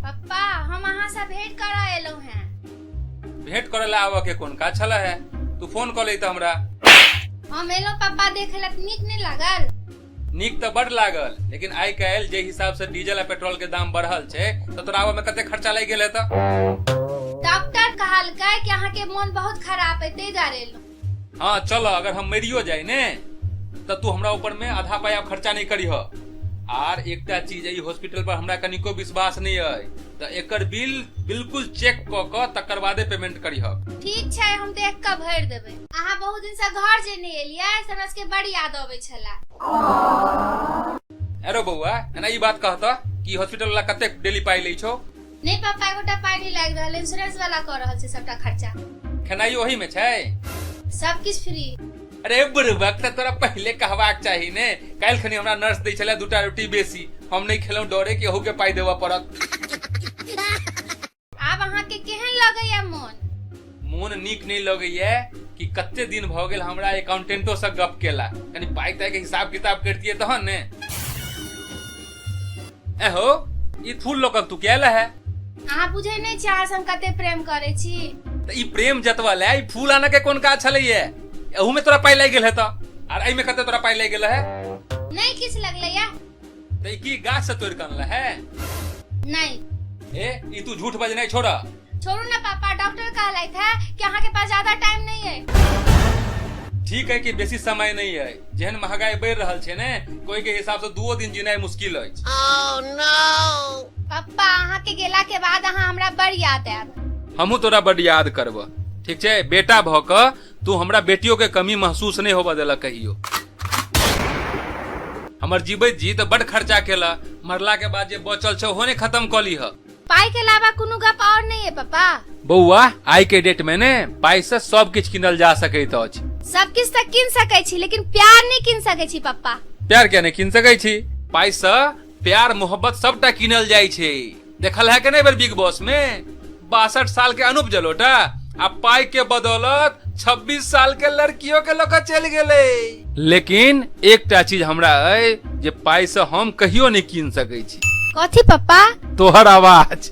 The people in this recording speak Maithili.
पप्पा हम अहाँ से भेंट करऽ एलहुँ हैं भेंट करे ला आबऽ के कोन काज छला है तू फोन कर ले हमरा हम एलहुँ पप्पा देखे ला नीक नहीं लागल नीक तऽ बड लागल लेकिन आइ काल्हि जे हिसाब से डीजल आ पेट्रोल के दाम बढ़ल छै तऽ तोरा आबे में कते खर्चा लागि गेल हेतऽ डॉक्टर कहलकै कि अहाँ के मन बहुत खराब है ताहि दुआरे एलहुँ हाँ चल अगर हम मरियो जाए ने तो तू हमरा ऊपर में आधा पाया खर्चा नहीं करी हो आर एकटा चीज है, ई हॉस्पिटल पर हमरा कनिको विश्वास नहीं है तो एकर बिल बिल्कुल चेक क क तकर बादे पेमेंट करी हो ठीक छै हम देख कऽ भरि देबै अहाँ बहुत दिन से घर जे नहीं एलिए से हमरा सबके बड़ी याद अबे छला अरे बौआ एना ई बात कहता कि हॉस्पिटल वाला कते डेली पाई लै छौ नहीं पापा एगोटा पाई नहीं लाग रहल इंश्योरेंस वाला कर रहल छै सबटा खर्चा खेनाई ओही में छै सब किछ फ्री अरे बुरबक त तोरा पहले कहबाक चाही ने काल्हि खनी हमरा नर्स दै छलै दूटा रोटी बेसी हम नहि खेलहुँ डरे कि अहूँ के पाई देबऽ पड़त आब अहाँके केहन लगैया मोन मोन नीक नहि लगैया कि कते दिन भऽ गेल हमरा एकाउंटेंटो से गप केला कनी पाइ ताइ के हिसाब किताब करतिए तहन ने एहो ई फूल लोकल तू केला है अहाँ बुझै नहि छी अहाँ से हम कते प्रेम करै छी तऽ ई प्रेम जतवा ले ई फूल आनऽ के कोन काज छलैया एहू में तोरा पाइ लागि गेल हेतऽ आर एहि में कते तोरा पाइ लागि गेल है नहि किछु लगलैया ते ई की गाछ से तोड़ के अनले है नहीं ए ई तू झूठ बजने छोड़ा छोड़ू ना पापा डॉक्टर कहलाई था कि अहाँ के पास ज्यादा टाइम नहीं है ठीक है कि बेसी समय नहीं है जेहन महंगाई बढ़ रहल छै ने कोई के हिसाब से दुओ दिन जीनाई मुश्किल अछि पापा अहाँ के गेला के बाद अहाँ हमरा बड़ याद आयब हमहू तोरा बड याद करब ठीक छै बेटा भऽ कऽ तू हमरा बेटियों के कमी महसूस नहीं होबा देला कहियो हमर जीवित जी तो बड खर्चा केला मरला के बाद जे बचल छे ओहो ने खत्म क ली ह पाई के अलावा कोनो गप और नहीं है पापा बौआ आइ के डेट में ने पाई से सब किछ किनल जा सकैत अछि सब किछ तक किन सकै छी लेकिन प्यार नहीं किन सकै छी पापा प्यार क्या नहीं किन सकै छी पाई से प्यार मोहब्बत सबटा किनल जाइ छै देखल है कि नहीं बेर बिग बॉस में बासठ साल के अनूप जलोटा आ पाई के बदौलत 26 साल के लड़कियों के लोग चल गेले लेकिन एकटा चीज हमरा है जे पाई से हम कहियो नहीं कीन सके छी कथी पप्पा तोहर आवाज